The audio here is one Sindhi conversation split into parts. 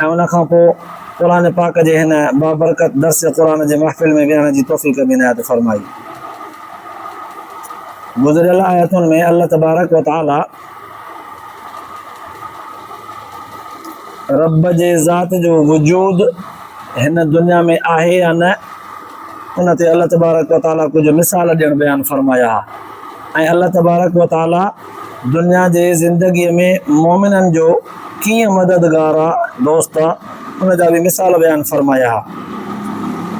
۽ ان کان پوء قرآن پاڪ جي هن بابرڪت درس قرآن جي محفل ۾ ويهڻ جي توفيق به عنايت فرمائي. گذريل آيتن ۾ الله تبارڪ و تعالي رب جي ذات جو وجود هن دنيا ۾ آهي يا نه ان تي الله تبارڪ و تعالي ڪجهه مثال ڏيڻ بيان فرمايا ۽ الله تبارڪ و تعالي دنيا جي زندگيء ۾ مؤمنن جو ڪيئن مددگار آ، دوست آ، ان جا به مثال بيان فرمايا ها.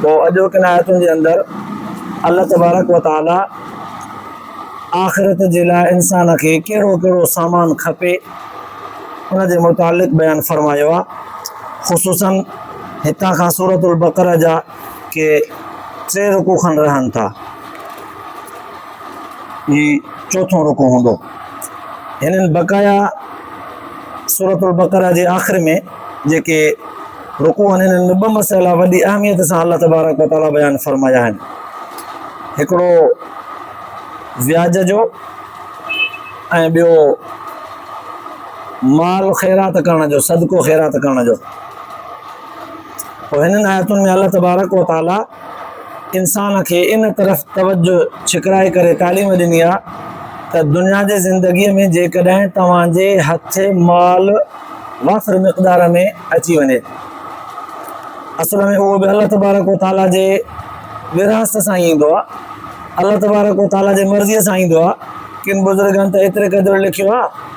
پوء اڄوڪين آيتن جي اندر الله تبارڪ و تعاليٰ آخرت جي لاء انسان کي ڪهڙو ڪهڙو سامان کپي، ان جي متعلق بيان فرمايو آ. خصوصاً هتان کان سورة البقرة جا کي ٽي رڪوع کن رهن ٿا هي چوٿون رڪوع هوندو هنن بقايا سورة البقره جي آخر ۾ جيڪي رڪوع آهن انهن ۾ ٻه مسئلا وڏي اهميت سان الله تبارڪ وتعالي بيان فرمايا آهن هڪڙو وياج جو ۽ ٻيو مال خيرات ڪرڻ جو صدقو خيرات ڪرڻ جو پوء هنن آيتن ۾ الله تبارڪ و تعالي انسان کي ان طرف توجه ڇڪرائي ڪري تعليم ڏني آهي ته دنيا جي زندگيء ۾ جيڪڏهن توهان جي هٿ مال وافر مقدار ۾ اچي وڃي اصل ۾ اهو به الله تبارڪ و تعالي جي ورهاست سان ايندو آهي الله تبارڪ و تعالي جي مرضيء سان ايندو آهي ڪن بزرگن ته ايتري قدر لکيو آهي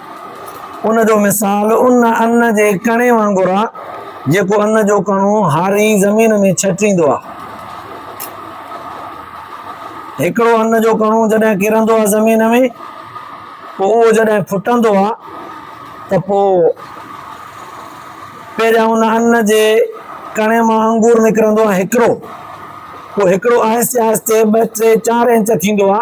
ان جو مثال ان ان جي ڪڻي وانگر آ جيڪو ان جو ڪڻو هاري زمين ۾ ڇٽيندو آ. هڪڙو ان جو ڪڻو جڏهن ڪرندو آ زمين ۾ پو اهو جڏهن ڦٽندو آ ته پو پهريان ان ان جي ڪڻي مان انگور نڪرندو آ هڪڙو پو هڪڙو آهستي آهستي ٻه ٽي چار انچ ٿيندو آ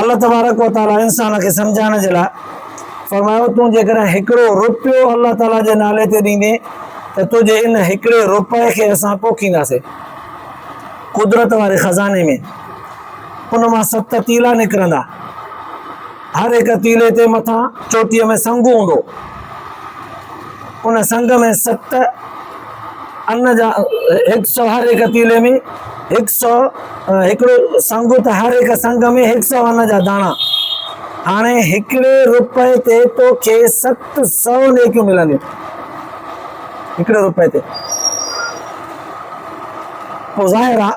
الله تبارڪ و تعاليٰ انسان کي سمجهائڻ جي لاء فرمايو تون جيڪڏهن هڪڙو روپيو الله تعاليٰ جي نالي تي ڏيندين ته تنهنجي ان هڪڙي روپئي کي اسان پوکينداسين قدرت واري خزاني ۾ ان مان ست تيلا نڪرندا هر هڪ تيلي تي مٿان چوٽيء ۾ سنگ هوندو. ان سنگ ۾ ست ان جا هڪ سؤ هر هڪ تيلي ۾ هڪ سؤ هڪڙو سنگ ته هر هڪ سنگ ۾ هڪ سؤ ان جا داڻا. هاڻي هڪڙي روپئي تي تو کي ست سؤ نيڪيون ملنديون. هڪڙي روپئي تي. پوء ظاهر آ.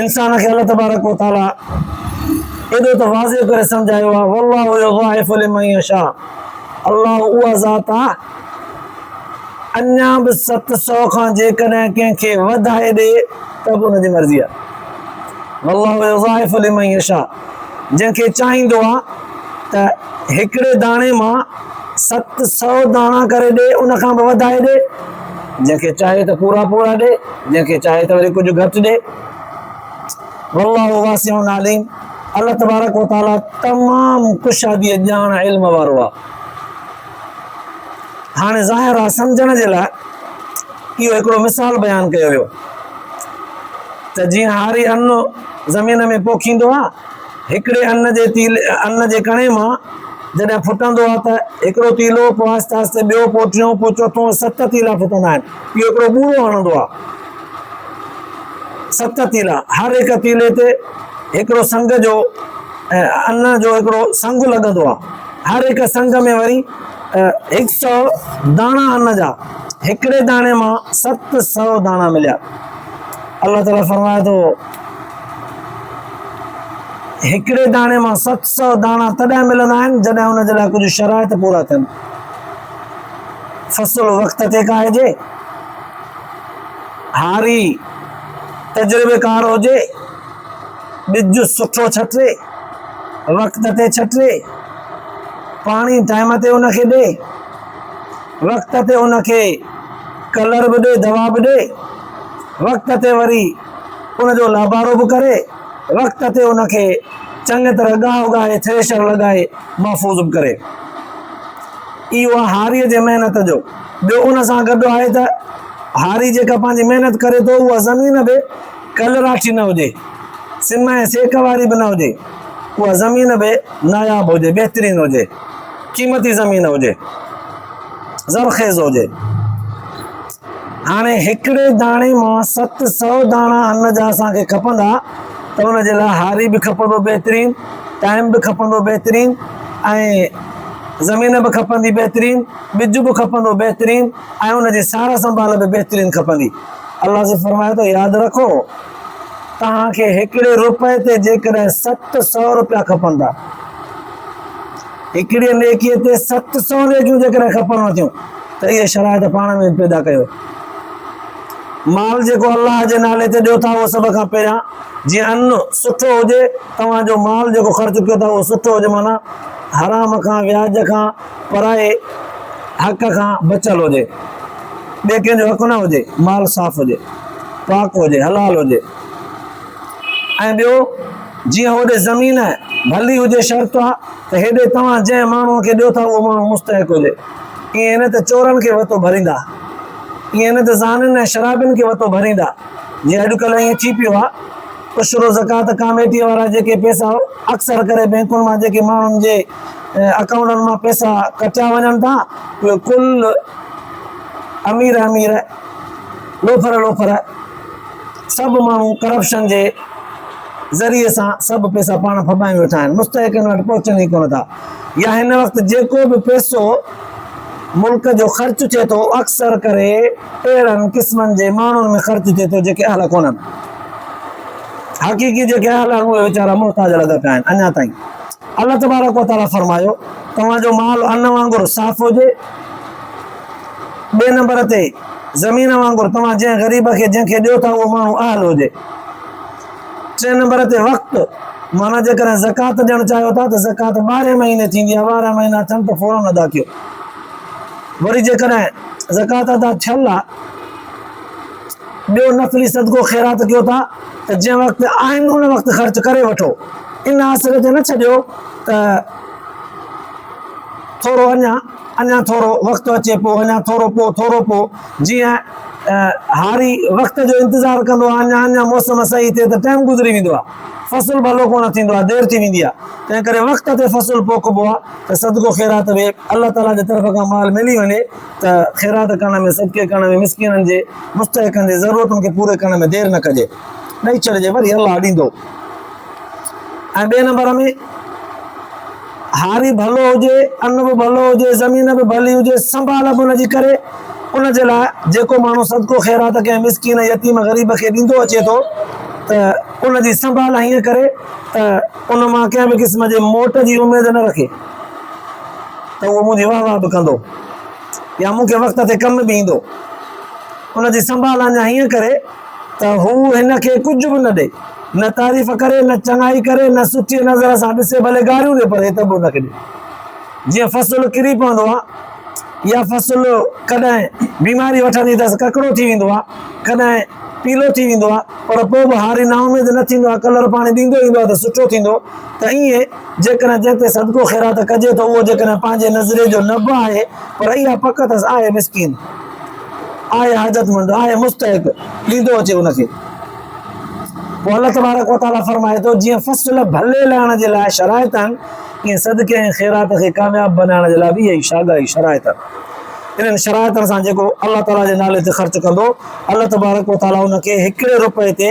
انسان کي الله تبارڪ و تعاليٰ ايڏو ته واضح ڪري سمجهايو آهي والله يضاعف لمن يشاء الله اها ذات آهي اڃا به ست سؤ کان جيڪڏهن ڪنهن کي وڌائي ڏي ته به ان جي مرضي آهي والله يضاعف لمن يشاء جنهن کي چاهيندو آ ته هڪڙي داڻي مان ست سؤ داڻا ڪري ڏي ان کان به وڌائي ڏي، جنهن کي چاهي ته پورا پورا ڏي، جنهن کي چاهي ته وري ڪجهه گهٽ ڏي. والله واسع عليم، الله تبارڪ وتعاليٰ تمام ڪشادي ڄاڻ علم وارو آ. هاڻي ظاهر آهي سمجهڻ جي لاء اهو هڪڙو مثال بيان ڪيو ويو ته جيئن هاري ان زمين ۾ پوکيندو آ هڪڙي ان جي تيل ان جي ڪڻي مان جڏهن ڦٽندو آ ته هڪڙو تيلو پوء آهستي آهستي ٻيو پوء ٽيون پوء چوٿون ست تيلا ڦٽندا آهن اهو هڪڙو ٻوڙو هڻندو آ ست تيلا هر هڪ تيلي تي هڪڙو سنگ جو ان جو هڪڙو سنگ لڳندو آ هر هڪ سنگ ۾ وري هڪ سئو داڻا ان جا هڪڙي داڻي مان ست سئو داڻا مليا الله تعالي فرمائي ٿو هڪڙي داڻي مان ست سئو داڻا تڏهن ملندا آهن جڏهن ان جي لاء ڪجهه شرائط پورا ٿين فصل وقت تي کائجي هاري تجربيڪار هجي ٻج سٺو ڇٽي، وقت تي ڇٽي، پاڻي ٽائيم تي ان کي ڏي، وقت تي ان کي ڪلر به ڏي دوا به ڏي، وقت تي وري ان جو لابارو به ڪري، وقت تي ان کي چڱي طرح ڳاهه اگائي ٿريشر لڳائي محفوظ به ڪري. اهو آهي هاريء جي محنت جو. ٻيو ان سان گڏ آهي ته هاري جيڪا پنهنجي محنت ڪري ٿو اها زمين به کل راٺي نه هجي، سم ۽ سيڪ واري به نه هجي، اها زمين به ناياب هجي، بهترين هجي، قيمتي زمين هجي، زرخيز هجي. هاڻي هڪڙي داڻي مان ست سؤ داڻا ان جا اسان کي کپندا ته ان جي لاء هاري به کپندو بهترين، ٽائيم به کپندو بهترين ۽ زمين به کپندي بهترين، ٻج به کپندو بهترين ۽ ان جي سار سنڀال به بهترين کپندي. الله سي فرمائي ٿو ياد رکو توهان کي هڪڙي روپئي تي جيڪڏهن ست سؤ روپيا کپندا هڪڙي نيڪي تي ست سؤ نيڪيون جيڪڏهن کپنو ٿيون ته اهي شرائط پاڻ ۾ پيدا ڪيو مال جيڪو الله جي نالي تي ڏيو ٿا اهو سڀ کان پهريان جي ان سٺو هجي توهان جو مال جيڪو خرچ ڪيو ٿا اهو سٺو هجي معنی حرام کان وياج کان پرائي حق کان بچيل هجي، ٻئي ڪنهن جو حق نه هجي، مال صاف هجي، پاڪ هجي، حلال هجي ۽ ٻيو جيئن هوڏي زمين ڀلي هجي شرط آ ته هيڏي توهان جنهن ماڻهوء کي ڏيو ٿا اهو ماڻهو مستحق هجي، ائين نه ته چورن کي وتو ڀريندا، ائين نه ته زانين ۽ شرابين کي وتو ڀريندا، جيئن اڄڪلهه ائين ٿي پيو آ، عشر و زڪوات ڪاميٽيء وارا جيڪي پئسا اڪثر ڪري بئنڪن مان جيڪي ماڻهن جي اڪائونٽن مان پئسا ڪٽيا وڃن ٿا ڪل امير امير لوفر لوفر سڀ ماڻهو ڪرپشن جي ذريعي سان سڀ پئسا پاڻ ڦٻائي ويٺا آهن مستحقن وٽ پهچن ئي ڪونه ٿا يا هن وقت جيڪو به پئسو ملڪ جو خرچ ٿئي ٿو اڪثر ڪري اهڙن قسمن جي ماڻهن ۾ خرچ ٿئي ٿو جيڪي اهل ڪونن حقيقي جيڪي اهل آهن اهي ويچارا محتاج لڳا پيا آهن اڃا تائين الله تبارڪ و تعاليٰ فرمايو، توهان جو مال ان وانگر صاف هجي. ٻئي نمبر تي زمين وانگر توهان جنهن غريب کي جنهن کي ڏيو ٿا اهو ماڻهو اهل هجي. ٽئين نمبر تي وقت معنيٰ جيڪڏهن زڪوات ڏيڻ چاهيو ٿا ته زڪوات ٻارهين مهيني ٿيندي آهي ٻارهن مهينا ٿين ته فوراً ادا ڪيو. وري جيڪڏهن زڪوات ادا ٿيل آهي ٻيو نفلي صدقو خيرات ڪيو ٿا. ته جنهن وقت آهن ان وقت خرچ ڪري وٺو ان آسري تي نه ڇڏيو ته ٿورو اڃا اڃا ٿورو وقت اچي پو اڃا ٿورو پو ٿورو پو جيئن هاري وقت جو انتظار ڪندو آهي اڃا اڃا موسم صحيح ٿئي ته ٽائم گذري ويندو آهي فصل ڀلو ڪونه ٿيندو آهي دير ٿي ويندي آهي تنهن ڪري وقت تي فصل پوکبو آهي ته صدقو خيرات به الله تعاليٰ جي طرف کان مال ملي وڃي ته خيرات ڪرڻ ۾ صدقي ڪرڻ ۾ مسڪينن جي مستحقن جي ضرورتن کي پوري ڪرڻ ۾ دير نه ڪجي ڏئي ڇڏجي وري الله ڏيندو ۽ ٻئي نمبر ۾ هاري ڀلو هجي ان به ڀلو هجي زمين به ڀلي هجي سنڀال به ان جي ڪري ان جي لاء جيڪو ماڻهو صدقو خيرات ڪنهن مسڪين يتيم غريب کي ڏيندو اچي ٿو ته ان جي سنڀال هيئن ڪري ته ان مان ڪنهن به قسم جي موٽ جي اميد نه رکي ته اهو منهنجي واهه واهه به ڪندو يا مون کي وقت تي ڪم به ايندو. ان جي سنڀال اڃا هيئن ڪري ته هو هن کي ڪجهه به نه ڏئي، نه تعريف ڪري، نه چڱائي ڪري، نه سٺيء نظر سان ڏسي، ڀلي گاريون ڏي پر عتب به ان کي ڏي. جيئن فصل ڪري پوندو آهي يا فصل ڪڏهن بيماري وٺندي اٿس، ڪڪڙو ٿي ويندو آهي، ڪڏهن پيلو ٿي ويندو آهي، پر پوء به هاري نااميد نه ٿيندو آهي، ڪلر پاڻي ڏيندو ايندو آهي ته سٺو ٿيندو ته ايئن جيڪڏهن جنهن تي صدقو خيرات ڪجي ته اهو جيڪڏهن پنهنجي نظريي جو نه به آهي پر اها پڪ اٿس آهي مسڪين، آهي حاجتمند، آهي مستحق، ڏيندو اچي ان کي. پوء الله تبارڪ وتعاليٰ فرمائي ٿو، جيئن فصل ڀلي لهڻ جي لاء شرائط آهن، ايئن صدقي ۽ خيرات کي ڪامياب بنائڻ جي لاء به اهي ئي ساڳيا شرائط آهن. انهن شرائطن سان جيڪو الله تعاليٰ جي نالي تي خرچ ڪندو، الله تبارڪ وتعاليٰ ان کي هڪڙي رپئي تي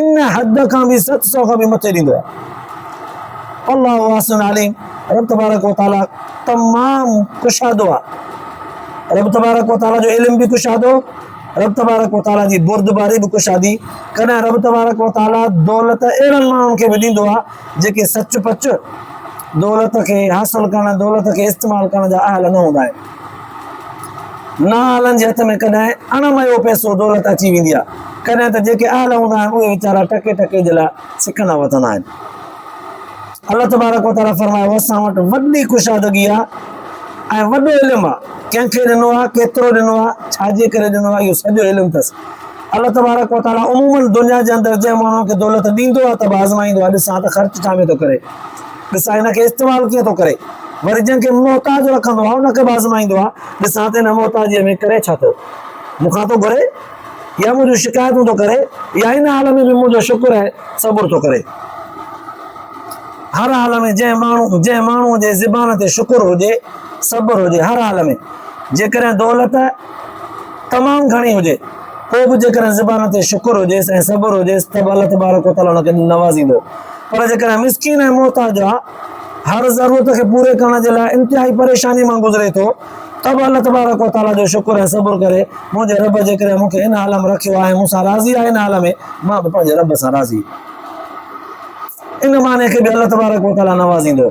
ان حد کان به ست سؤ کان به مٿي ڏيندو آهي الله احسن عليم رب تبارڪ و تعالي تمام ڪشادو آهي رب تبارڪ و تعالي جو علم به ڪشادو رب تبارڪ و تعالي جي بردباري به ڪشادي ڪڏهن رب تبارڪ و تعالي دولت اهڙن ماڻهن کي به ڏيندو آهي جيڪي سچ پچ دولت کي حاصل ڪرڻ دولت کي استعمال ڪرڻ جا اهل نه هوندا آهن نااهلن جي هٿ ۾ ڪڏهن اڻ مئو پئسو دولت اچي ويندي آهي، ڪڏهن ته جيڪي اهل هوندا آهن اهي ويچارا ٽڪي ٽڪي جي لاء سڪندا وتندا آهن. الله تبارڪ و تعالي فرمايو اسان وٽ وڏي ڪشادگي آهي ۽ وڏو علم آهي، ڪنهن کي ڏنو آهي، ڪيترو ڏنو آهي، ڇا جي ڪري ڏنو آهي اهو سڄو علم اٿس. الله تبارڪ و تعالي عموماً دنيا جي اندر جنهن ماڻهوء کي دولت ڏيندو آهي ته به آزمائيندو آهي ڏسان ته خرچ ڇا ۾ ٿو ڪري. ڏسان هن کي استعمال ڪيئن ٿو ڪري. وري جنهن کي محتاج رکندو آهي ان کي به آزمائيندو آهي، ڏسان ته هن محتاجيء ۾ ڪري ڇا ٿو. مون کان ٿو گهري يا منهنجون شڪايتون ٿو ڪري يا هن حال ۾ به منهنجو شڪر ۽ صبر ٿو ڪري. هر حال ۾ جنهن ماڻهو جنهن ماڻهوء جي زبان تي شڪر هجي، صبر هجي هر حال ۾ جيڪڏهن دولت تمام گهڻي هجي پوء به جيڪڏهن زبان تي شڪر هجيس ۽ صبر هجيس ته به الله تبارڪ وتعاليٰ ان کي نوازيندو. پر جيڪڏهن مسڪين ۽ محتاج هر ضرورت کي پوري ڪرڻ جي لاء انتهائي پريشاني مان گذري ٿو ته به الله تبارڪ و تعاليٰ جو شڪر ۽ صبر ڪري، منهنجي رب جيڪڏهن مون کي ان حال ۾ رکيو آهي ۽ مون سان راضي آهي ان حال ۾ مان به پنهنجي رب سان راضي ان معني کي به الله تبارڪ و تعاليٰ نوازيندو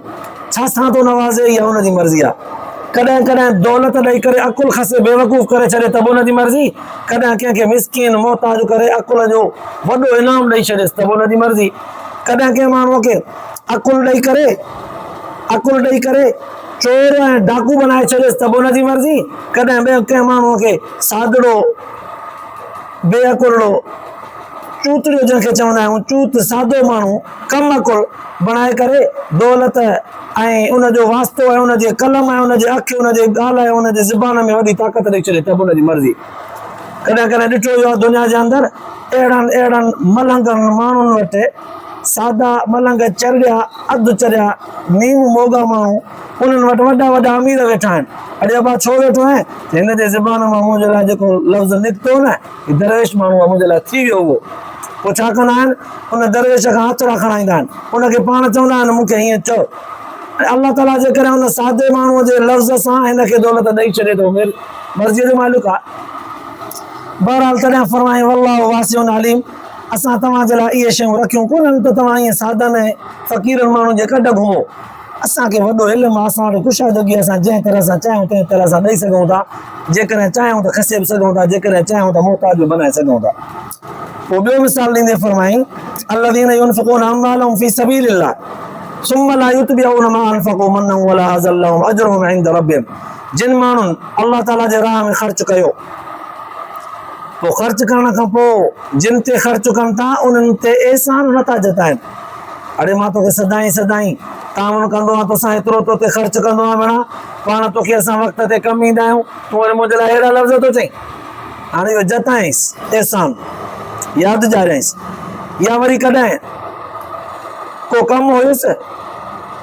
ڇا سان ٿو نوازي اها ان جي مرضي آهي ڪڏهن ڪڏهن دولت ڏئي ڪري عقل کسي بيوقوف ڪري ڇڏي ته به ان جي مرضي. ڪڏهن ڪنهن کي مسڪين، محتاج ڪري عقل جو وڏو انعام ڏئي ڇڏيس ته به ان جي مرضي. ڪڏهن ڪنهن ماڻهوء کي عقل ڏئي ڪري، عقل ڏئي ڪري چور ۽ ڊاڪو بنائي ڇڏيس ته به ان جي مرضي. ڪڏهن ٻئي ڪنهن ماڻهوء کي ساڌڙو، بي عقلڙو، چوتڙيو جنهن کي چوندا آهيون، چوت، سادو ماڻهو، ڪم ڪر بڻائي ڪري دولت ۽ ان جو واسطو ۽ ان جي قلم ۽ ان جي اک ان جي ڳالهه ۽ ان جي زبان ۾ وڏي طاقت ڏئي ڇڏي ته به ان جي مرضي ڪڏهن ڪڏهن ڏٺو ويو آهي دنيا جي اندر اهڙن اهڙن ملنگن ماڻهن وٽ سادا ملنگ چريا اڌ چريا نيم موڳا ماڻهو انهن وٽ وڏا وڏا امير ويٺا آهن اڙي ابا ڇو ويٺو آهين هن جي زبان مان منهنجي لاء جيڪو لفظ نڪتو نه هي درويش ماڻهو آهي منهنجي لاء ٿي ويو اهو. پوء ڇا ڪندا آهن؟ ان درويش کان هٿڙا کڻائيندا آهن. ان کي پاڻ چوندا آهن مون کي هيئن چئو. ۽ الله تعاليٰ جيڪڏهن ان سادي ماڻهوء جي لفظ سان هن کي دولت ڏئي ڇڏي ته هو مرضيء جو مالڪ آهي. بهرحال تڏهن فرمايائين والله واسع عليم اسان توهان جي لاء اهي شيون رکيون ڪونهن ته توهان ائين سادن ۽ فقيرن ماڻهن جي ڪڍ گهمو. اسان کي وڏو علم آهي، اسان وٽ ڪشادگي آهي، اسان جنهن طرح سان چاهيون تنهن طرح سان ڏئي سگهون ٿا، جيڪڏهن چاهيون ته کسي به سگهون ٿا، جيڪڏهن چاهيون ته محتاج به بنائي سگهون ٿا. پوء ٻيو مثال ڏيندي فرمايائين، الذين ينفقون اموالهم في سبيل الله ثم لا يتبعون ما انفقوا منا ولا حزا لهم اجرهم عند ربهم جن ماڻهن الله تعاليٰ جي راهه ۾ خرچ ڪيو پوء خرچ ڪرڻ کان پوء جن تي خرچ ڪن ٿا انهن تي احسان نٿا جتائين اڙي مان توکي سدائين سدائين تعاون ڪندو آهيان، توسان ايترو تو تي خرچ ڪندو آهيان ڀيڻا، پاڻ توکي اسان وقت تي ڪم ايندا آهيون، تون وري منهنجي لاء اهڙا لفظ ٿو چئين؟ هاڻي اهو جتائينس احسان ياد ڏياريائينس يا وري ڪڏهن ڪو ڪم هيس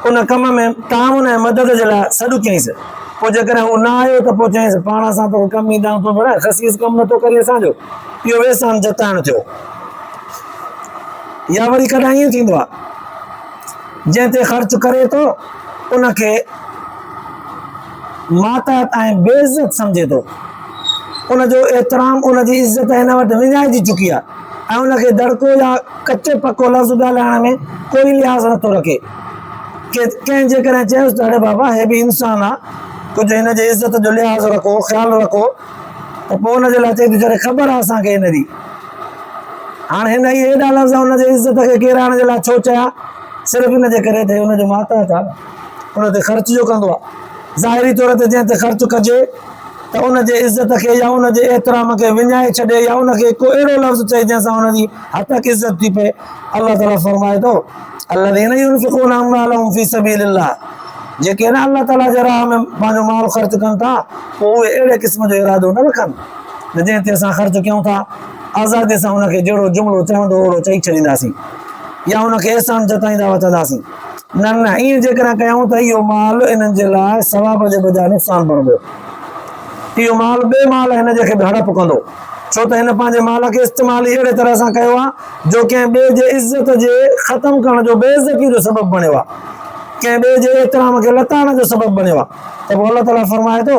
ان ڪم ۾ تعاون ۽ مدد جي لاء سڏ ڪيائينس، پوء جيڪڏهن هو نه آيو ته پوء چيائينس پاڻ اسان توکي ڪم ايندا آهيون، تون ڀيڻا خسيس ڪم نه ٿو ڪرين اسان جو، اهو احسان جتائڻ ٿيو. يا وري ڪڏهن ائين ٿيندو آهي جنهن تي خرچ ڪري ٿو ان کي ماتحت ۽ بي عزت سمجهي ٿو ان جو احترام ان جي عزت هن وٽ وڃائجي چڪي آهي ۽ ان کي دڙڪو يا ڪچو پڪو لفظ ڳالهائڻ ۾ ڪوئي لحاظ نٿو رکي ڪي ڪنهن جيڪڏهن چيس ته اڙي بابا هي به انسان آهي ڪجهه هن جي عزت جو لحاظ رکو خيال رکو ته پوء ان جي لاء چئي ٿو چڙي خبر آهي اسان کي هن جي هاڻ هن اهي ايڏا لفظ ان جي عزت کي ڪيرائڻ جي لاء ڇو چيا؟ صرف ان جي ڪري ته هي ان جو ماتحت آهي، ان تي خرچ جو ڪندو آهي. ظاهري طور تي جنهن تي خرچ ڪجي ته ان جي عزت کي يا ان جي احترام کي وڃائي ڇڏي يا ان کي ڪو اهڙو لفظ چئي جنهن سان ان جي هتڪ عزت ٿي پئي. الله تعاليٰ فرمائي ٿو، الذين ينفقون اموالهم في سبيل الله جيڪي نه الله تعاليٰ جي راهه ۾ پنهنجو مال خرچ ڪن ٿا، پوء اهي اهڙي قسم جو ارادو نه رکن. نه جنهن تي اسان خرچ ڪيون ٿا، آزاديء سان ان کي جهڙو جملو چوندو اوڙو چئي ڇڏينداسين يا ان کي احسان جتائيندا وتنداسين؟ نه نه، ائين جيڪڏهن ڪيون ته اهو مال انهن جي لاء ثواب جي بجاء نقصان بڻبو. اهو مال ٻئي مال هن جي کي به هڙپ ڪندو، ڇو ته هن پنهنجي مال کي استعمال ئي اهڙي طرح سان ڪيو آهي جو ڪنهن ٻئي جي عزت جي ختم ڪرڻ جو بي عزتيء جو سبب بڻيو آهي، ڪنهن ٻئي جي احترام کي لتاڙڻ جو سبب بڻيو آهي ته پوء الله تعاليٰ فرمائي ٿو.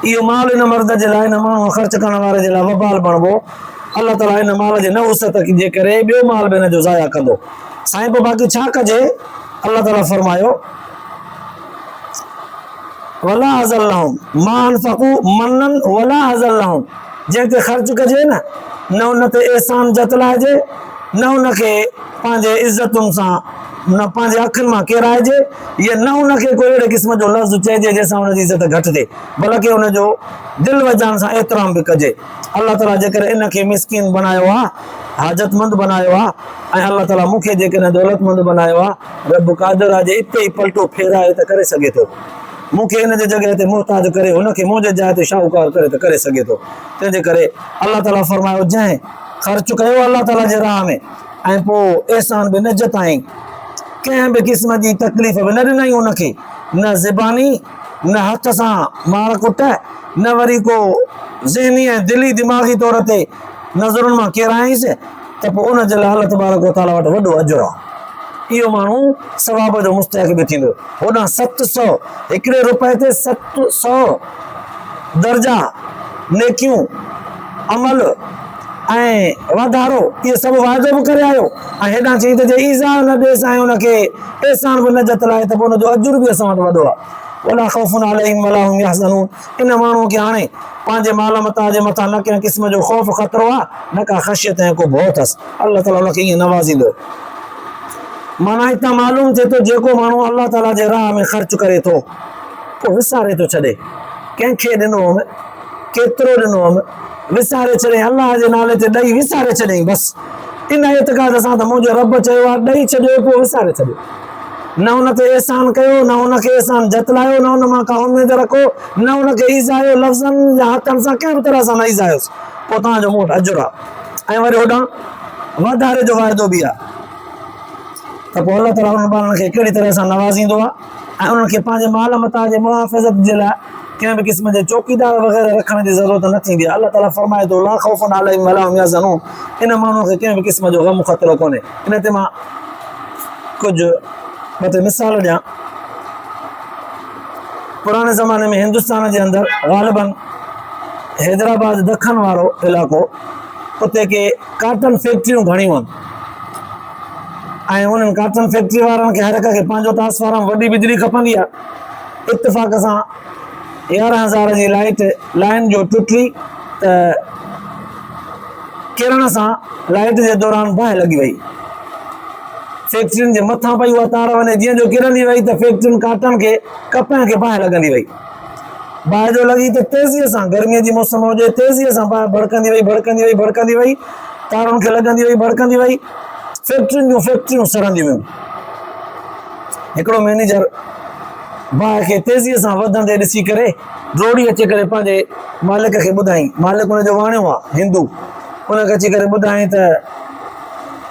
اهو مال ان مرد جي لاء، ان ماڻهوء خرچ ڪرڻ واري جي لاء وبال بڻبو. الله تعاليٰ ان مال جي نه وسعت جي ڪري ٻيو مال به ان جو ضايع ڪندو. سائين پوء باقي ڇا ڪجي؟ الله تعاليٰ فرمايو. ولا ازلهم ما انفقوا منن ولا ازلهم جنهن تي خرچ ڪجي نه نه ان تي احسان جتلائجي نه ان کي پنهنجي عزتن سان نه پنهنجي اکين مان ڪيرائجي هيء نه ان کي ڪو اهڙي قسم جو لفظ چئجي جنهن سان ان جي عزت گهٽ ٿئي بلڪ ان جو دل و جان سان احترام به ڪجي. الله تعاليٰ جيڪڏهن ان کي مسڪين بنايو آهي، حاجتمند بنايو آهي ۽ الله تعاليٰ مون کي جيڪڏهن دولتمند بنايو آهي، رب قادر آهي جي اتي ئي پلٽو ڦيرائي ته ڪري سگهي ٿو. مون کي ان جي جڳهه تي محتاج ڪري هن کي منهنجي جاء تي شاهوڪار ڪري ته ڪري سگهي ٿو. تنهن جي ڪري الله تعاليٰ فرمايو جنهن خرچ ڪيو الله تعاليٰ جي راهه ۾. ۽ پوء احسان به نه جتائين، ڪنهن به قسم جي تڪليف به نه ڏنائين ان کي، نه زباني، نه هٿ سان مار ڪٽ، نه وري ڪو ذهني ۽ دلي دماغي طور تي نظرن مان ڪيرايائينس ته پوء ان جي لاء الله تبارڪ و تعاليٰ وٽ وڏو اجر آهي. اهو ماڻهو ثواب جو مستحق به ٿيندو. هوڏانهن ست سؤ، هڪڙي روپئي تي ست سؤ، درجا، نيڪيون، عمل، ۽ واڌارو، اهي سڀ واعدو به ڪري آيو ۽ هيڏانهن چيائين ته جي ايذاء نه ڏيس ۽ ان کي احسان به نه جتلائين ته پوء ان جو اجر به اسان وٽ وڏو آهي. ولا خوف عليهم ولا هم يحزنون ان ماڻهوء کي هاڻي پنهنجي مال متاع جي مٿان نه ڪنهن قسم جو خوف خطرو آهي نه ڪا خشيت ۽ ڪو ڀؤ اٿس. الله تعاليٰ ان کي ائين نوازيندو. معنيٰ هتان معلوم ٿئي ٿو جيڪو ماڻهو الله تعاليٰ جي راهه ۾ خرچ ڪري ٿو پوء وساري ٿو ڇڏي ڪنهن کي ڏنو هوم. ڪيترو ڏنو هئم، وساري ڇڏيائين، الله جي نالي تي ڏئي وساري ڇڏيائين، بس ان اعتقاد سان ته منهنجو رب چيو آهي ڏئي ڇڏيو پوء وساري ڇڏيو، نه ان تي احسان ڪيو، نه ان کي احسان جتلايو، نه ان مان ڪا اميد رکو، نه ان کي ايذايو، لفظن يا حقن سان ڪنهن به طرح سان نه ايذايوس، پوء توهان جو مون وٽ اجر آهي ۽ وري هوڏانهن واڌاري جو واعدو به آهي ته پوء الله تعاليٰ انهن ٻارڙن کي ڪهڙي طرح سان نوازيندو آهي. ۽ انهن کي پنهنجي مال متاع جي محافظت جي لاء ڪنهن به قسم جي چوڪيدار وغيره رکڻ جي ضرورت نه ٿيندي آهي، الله تعاليٰ فرمائي ٿو، لا خوف عليهم ولا هم يحزنون ان ماڻهوء کي ڪنهن به قسم جو غم خطرو ڪونهي. ان تي مان ڪجهه ٻه ٽي مثال ڏيان. پراڻي زماني ۾ هندستان جي اندر غالباً حيدرآباد دکن وارو علائقو اتي ڪي ڪاٽن فيڪٽريون گهڻيون هن. ۽ انهن ڪارٽن فيڪٽري وارن کي هر هڪ کي پنهنجو ٽرانسفارم وڏي بجلي کپندي آ اتفاق سان يارهن هزار جي لائيٽ لائين جو ٽٽي ته ڪرڻ سان لائيٽ جي دوران باهه لڳي وئي فيڪٽرين جي مٿان پئي اها تار وڃي جيئن جو ڪرندي وئي ته فيڪٽرين ڪارٽن کي ڪپهن کي باهه لڳندي وئي باهه جو لڳي ته تيزيء سان، گرميء جي موسم هجي، تيزيء سان باهه ڀڙڪندي وئي، ڀڙڪندي وئي، ڀڙڪندي وئي، تارن کي لڳندي وئي، ڀڙڪندي وئي، فيڪٽرين جون فيڪٽريون سڙنديون ويون. هڪڙو مئنيجر باهه کي تيزيء سان وڌندي ڏسي ڪري، ڊوڙي اچي ڪري پنهنجي مالڪ کي ٻڌائين. مالڪ ان جو واڻيو هو، هندو. ان کي اچي ڪري ٻڌائين ته.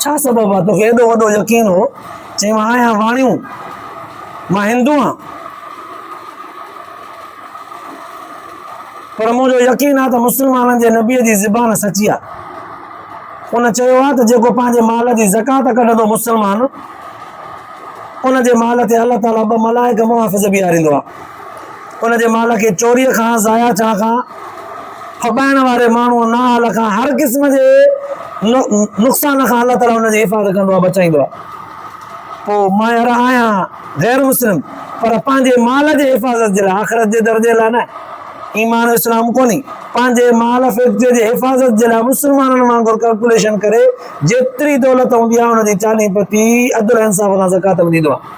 ڇا سبب هو توکي ايڏو وڏو يقين هو؟ چيم آء آهيان واڻيون، مان هندو آهيان. پر مون جو يقين آهي ته مسلمانن جي نبيء جي زبان سچي آهي. ان چيو آهي ته جيڪو پنهنجي مال جي زڪات ڪڍندو مسلمان، ان جي مال تي الله تعاليٰ ٻه ملائڪ محافظ بيهاريندو آهي. ان جي مال کي چوريء کان، ضايع ٿيڻ کان، ڦٻائڻ واري ماڻهوء نااهل کان هر قسم جي نقصان کان الله تعاليٰ ان جي حفاظت ڪندو آهي، بچائيندو آهي. پوء مان يار آهيان غير مسلم پر پنهنجي مال جي حفاظت جي لاء، آخرت جي درجي لاء نه. ايمان و اسلام ڪونهي. پنهنجي مال فيڪٽريء جي حفاظت جي لاء مسلمانن وانگر ڪلڪوليشن ڪري جيتري دولت هوندي آهي ان جي چاليهه پتي عدل و انصاف سان زڪوات به ڏيندو آهيان.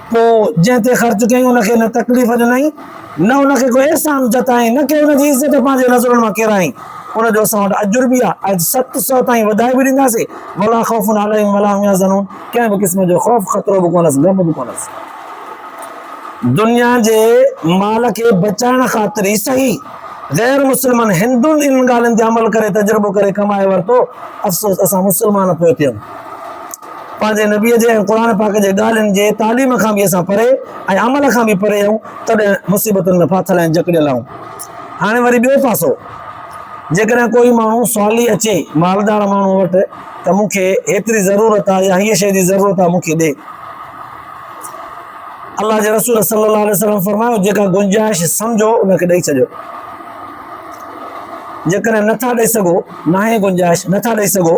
پوء جنهن تي خرچ ڪيائين ان کي نه تڪليف ڏنائين، نه ان کي ڪو احسان جتائين، نه ڪنهن ان جي عزت پنهنجي نظرن مان ڪيرائين، ان جو اسان وٽ اجر به آهي ۽ ست سؤ تائين وڌائي به ڏينداسين، ولا خوف عليهم ولا هم يحزنون ڪنهن به قسم جو خوف خطرو به ڪونهس غم به ڪونهس. دنيا جي مال کي بچائڻ خاطر ئي سهي غير مسلمن هندن انهن ڳالهين تي عمل ڪري تجربو ڪري ڪمائي ورتو، افسوس اسان مسلمان پوئتي آهيون. پنهنجي نبي جي ۽ قرآن پاڪ جي ڳالهين جي تعليم کان به اسان پري ۽ عمل کان به پري آهيون تڏهن مصيبتن ۾ ڦاٿل ۽ جڪڙيل آهيون هاڻي وري ٻيو پاسو جيڪڏهن ڪوئي ماڻهو سوالي اچي مالدار ماڻهو وٽ ته مون کي هيتري ضرورت آهي يا هيء شيء جي ضرورت آهي مون کي ڏي الله جي رسول صلي الله عليه وسلم فرمايو جيڪا گنجائش سمجھو ان کي ڏئي ڇڏيو جيڪڏهن نٿا ڏئي سگھو ناهي گنجائش نٿا ڏئي سگھو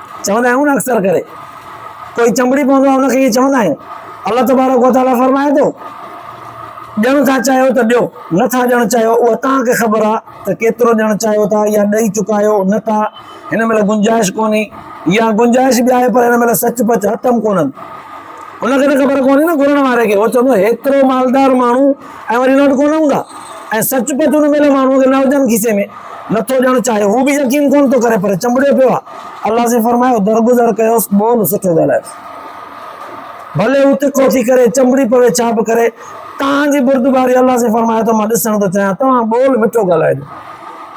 چوندا آهيون نه اڪثر ڪري ڪوئي چنبڙي پوندو آهي ان کي ائين چوندا آهيون الله تبارڪ و تعالي فرمائي ٿو ڏيڻ ٿا چاهيو ته ڏيو نٿا ڏيڻ چاهيو اها توهان کي خبر آهي ته ڪيترو ڏيڻ چاهيو ٿا يا ڏئي چڪا آهيو نه ٿا هن مهل گنجائش ڪونهي يا گنجائش به آهي پر هن مهل سچ پچ هتم ڪونهن ان کي ته خبر ڪونهي نه گهرڻ واري کي هو چوندو هيترو مالدار ماڻهو ۽ وري نوٽ ڪونه هوندا ۽ سچ پچ ان ميلي ماڻهوء کي نه هجن کيسي ۾ نٿو ڄڻ چاهي هو به يقين ڪونه ٿو ڪري پر چنبڙيو پيو آهي الله سائين فرمايو درگذر ڪيوس ٻول سٺو ڳالهايوس ڀلي هو تکو ٿي ڪري چنبڙي پوي ڇا به ڪري تان جي بردباري الله سائين فرمايو ته مان ڏسڻ ٿو چاهيان توهان ٻول مٺو ڳالهائجو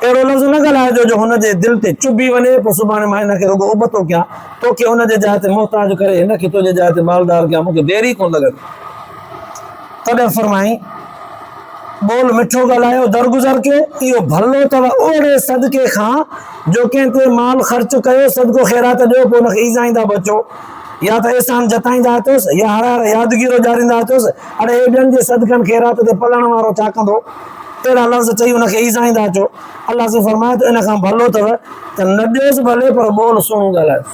اهڙو لفظ نه ڳالهائجو جو هن جي دل تي چڀي وڃي پوء سڀاڻي مان هن کي رڳو ابتو ڪيان توکي هن جي جاء تي محتاج ڪري هن کي تنهنجي جاء تي مالدار ڪيان مون کي دير ئي ڪونه لڳندي تڏهن فرمائين، ٻول مٺو ڳالهايو درگذر کي، اهو ڀلو اٿو اوهڙي صدقي کان جو ڪنهن تي مال خرچ ڪيو، صدقو خيرات ڏيو پوء ان کي ايذائيندا به اچو، يا ته احسان جتائيندا اچوس، يا هر هر يادگيرو ڏياريندا اچوس، اڙي هي ٻين جي صدقن خيرات تي پلڻ وارو ڇا ڪندو؟ اهڙا لفظ چئي ان کي ايذائيندا اچو. الله سائين فرمايو ته ان کان ڀلو اٿو ته نه ڏيوس ڀلي پر ٻول سهڻو ڳالهايوس.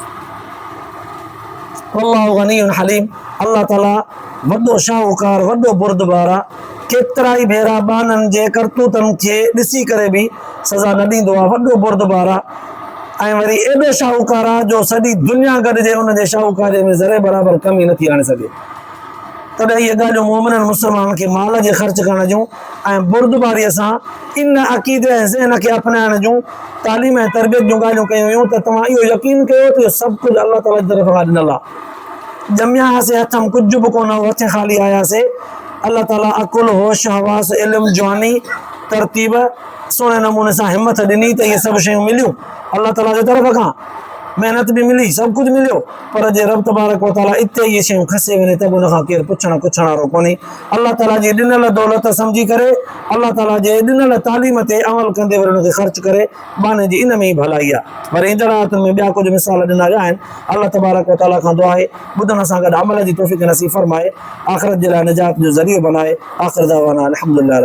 والله غني حليم الله تعالي وڏو شاهوڪار، وڏو بردبار آ، ڪيترائي ڀيرا ٻانهن جي ڪرتوتن کي ڏسي ڪري به سزا نه ڏيندو آ، وڏو بردبار آ ۽ وري ايڏو شاهوڪار آ جو سڄي دنيا گڏجي ان جي شاهوڪاري ۾ ذري برابر ڪمي نٿي آڻي سگهي. تڏهن اهي ڳالهيون مؤمنن مسلمانن کي مال جي خرچ ڪرڻ جون ۽ بردباريء سان ان عقيدي ۽ ذهن کي اپنائڻ جون تعليم ۽ تربيت جون ڳالهيون ڪيون ويون ته توهان اهو يقين ڪيو ته اهو سڀ ڪجهه الله تعاليٰ جي طرفان ڏنل آ. ڄميا هاسين هٿم ڪجهه به ڪونه هو هٿين خالي آياسين الله تعالي عقل هوش حواس علم جواني ترتيب سهڻي نموني سان همٿ ڏني ته اهي سڀ شيون مليون الله تعالي جي طرف کان محنت به ملي سڀ ڪجهه مليو پر جي رب تبارڪ وتعالي اتي اهي شيون کسي وڃي ته به ان کان ڪير پڇڻ ڪڇڻ وارو ڪونهي الله تعالي جي ڏنل دولت سمجهي ڪري الله تعالي جي ڏنل تعليم تي عمل ڪندي وري ان کي خرچ ڪري ٻانهن جي ان ۾ ئي ڀلائي آهي. وري ايندڙ آيتن ۾ ٻيا ڪجهه مثال ڏنا ويا آهن. الله تبارڪ و تعاليٰ کان دعا آهي، ٻڌڻ سان گڏ عمل جي توفيق نصيب فرمائي، آخرت جي لاء نجات جو ذريعو بنائي، آخر دعوانا ان الحمدلله رب.